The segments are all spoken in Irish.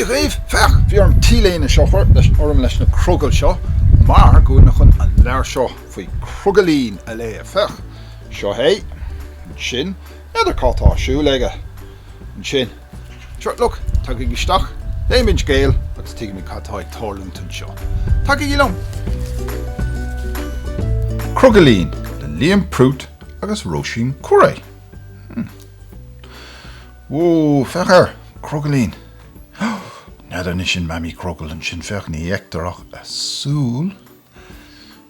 Dia dhaoibh! Féach! Bhí orm T-léine seo a chur orm leis na crogaill seo mar go bhfuil mé chun an leabhar seo faoi Crogaillín a léamh. Féach! Seo é. Ansin, n'fheadar cad atá ar siúl aige. Ansin. Sure, look, tagaigí isteach, léimis an scéal agus tuigfimid cad atá ag tarlú anseo. Tagaigí liom! Crogaillín le Liam Prút agus Róisín Curé. Hmm. Whoa, féach air! Crogaillín! N'fheadar anois, sin Mamaí Crogall ansin, féach, ní fheictear ach a súil.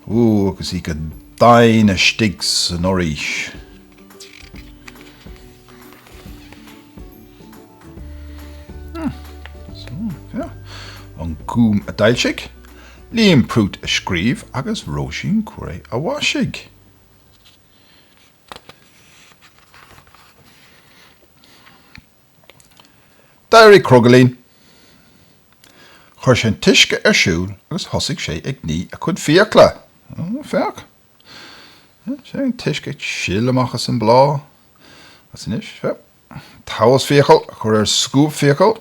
Ó, agus í go daingean istigh san fhoraois. An Gúm a d'fhoilsigh, Liam Prút a scríobh agus Róisín Curé a mhaisigh. D'éirigh Crogaillín. Chuir sé an t-uisce ar siúl agus thosaigh sé ag ní a chuid fiacla. Féach! Féach! Sin é an t-uisce ag sileadh amach as an bhláth. Agus anois, féach! Taos fiacal a chur ar scuab fiacal.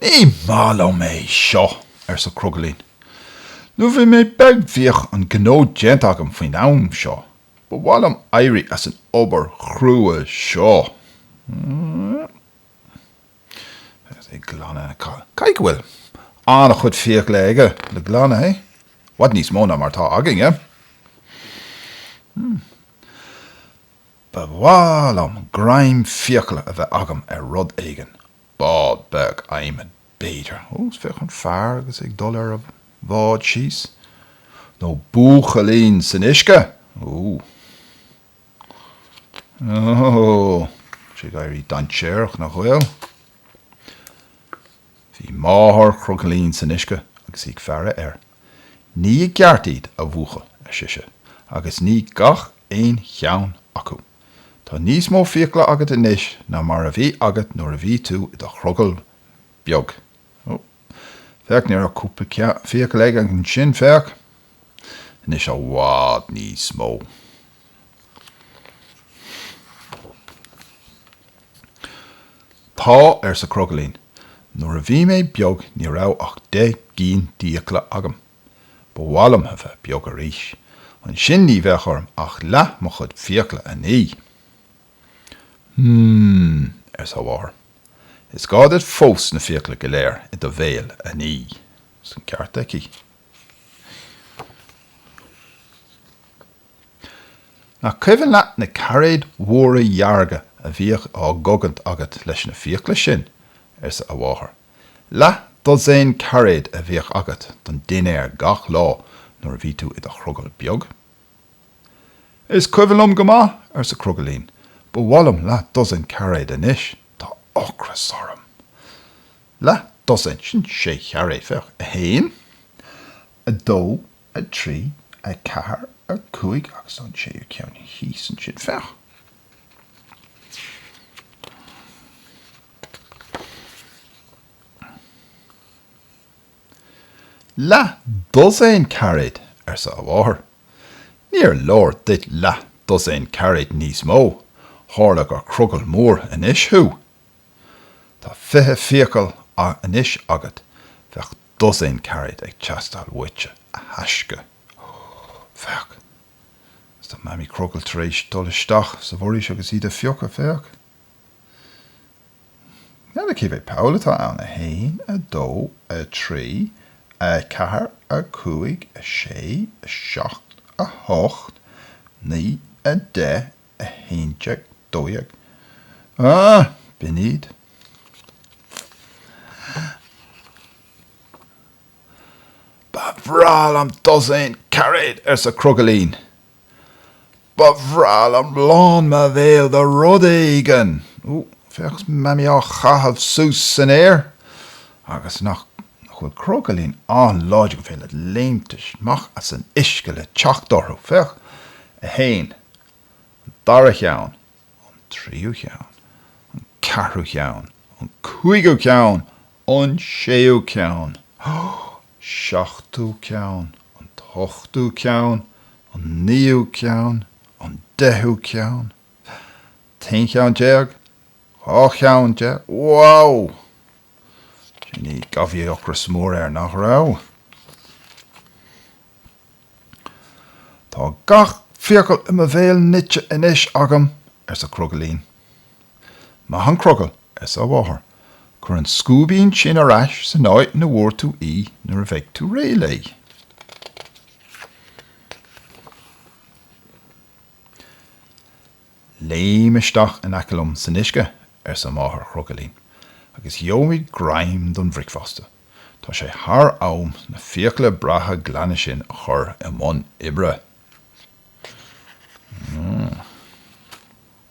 Ní maith liom é seo, arsa Crogaillín. Nuair a bhí mé beag bhíodh an gnó déanta agam faoin am seo. Ba mhaith liom éirí as an obair chrua seo. Agus é ag glanadh, caithfidh go bhfuil an-chuid fiacla aige le glanadh, eh? I bhfad níos mó ná mar atá againne. Ba mhaith liom greim fiacla a bheith agam ar rud éigin, bád beag adhmaid, b'fhéidir, ó féach an fear agus é ag dul ar a bhád síos, nó buachaillín san uisce! Ooh. Ooh. Tá sé ag éirí dainséarach, nach bhfuil? Bhí máthair Chrogaillín san uisce agus í ag faire air. Nigh i gceart iad, a bhuachaill, ar sise, agus nigh gach aon cheann acu. Tá níos mó fiacla agat anois ná mar a bhí agat nuair a bhí tú i do chrogall beag. Ó, féach, ní raibh ach cúpla fiacail aige ansin, féach. Anois i bhfad níos mó. Tá, arsa Crogaillín, nuair a bhí mé beag ní raibh ach deich gcinn d'fhiacla agam. Ba mhaith liom a bheith beag arís. Ansin ní bheadh orm ach leath mo chuid fiacla a ní. Mmm, arsa a mháthair, is gá duit fós na fiacla go léir i do bhéal a ní. Is an ceart aici. Nach cuimhin leat na cairéid mhóra dhearga a bhíodh á gcogaint agat leis na fiacla sin? arsa a mháthair. Leath dosaen cairéad a bhíodh agat don dinnéar gach lá nuair a bhí tú i do chrogall beag. Is cuimhin liom go maith, arsa Crogaillín, ba mhaith liom leath-dosaen cairéad anois. Tá ocras orm. Leath-dosaen, sin sé chairéad, féach, a haon, a dó, a trí, a ceathair, a cúig, agus an séú ceann thíos ansin, féach. Leath dosaen cairéad, arsa a mháthair. Níor leor duit leath dosaen cairéad níos mó, tharla gur crogall mór anois thú. Tá fiche fiacail anois agat, bheadh dosaen cairéad ag teastáil uaitse, a thaisce. Féach, is tá Mamaí Crogall tar éis dul isteach sa bhforaois agus iad a phiocadh, féach. Nó, cé mhéad poll atá ann? A haon, a dó, a trí, a ceathair, a cúig, a sé, a seacht, a hocht, naoi, a deich, a haon déag, dó dhéag. Ah! B'in iad. Ba bhreá liom dosaen cairéad, arsa Crogaillín. Ba bhreá liom lán mo bhéil de rud éigin! Ó, féach 's Mammy á chaitheamh suas san aer! Agus nach bhfuil Crogaillín an-láidir gur féidir leis léimt amach as an uisce le teacht orthu! Féach, a haon, an dara cheann, an tríú cheann, an ceathrú cheann, an cúigiú ceann, An séú ceann. Seachtú ceann. An t-ochtú ceann. An naoú ceann. An deichiú ceann. t-aon cheann déag. dhá cheann déag. Wow! Déarfainn go raibh ocras mór air, nach raibh? Tá gach fiacail i mo bhéal nite anois agam, arsa Crogaillín. Maith an crogall! arsa a mháthair. 'Cuir an scuaibín sin ar ais san áit 'na bhfuair tú í nuair a bheidh tú réidh léi. Léim isteach in aice liom san uisce, arsa Máthair Chrogaillín, 'agus gheobhaimid greim don bhricfeasta. Tá sé thar am na fiacla breátha glana sin a chur i mbun oibre.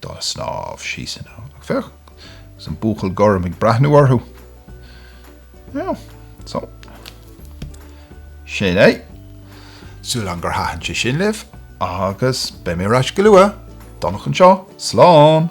dá snámh síos ann. Féach, agus an buachaill gorm ag breathnú orthu. Ó, so. Sin é. Súil agam gur thaitin sé sin libh, agus beidh mé ar ais go luath. Donnchadh anseo. Slán!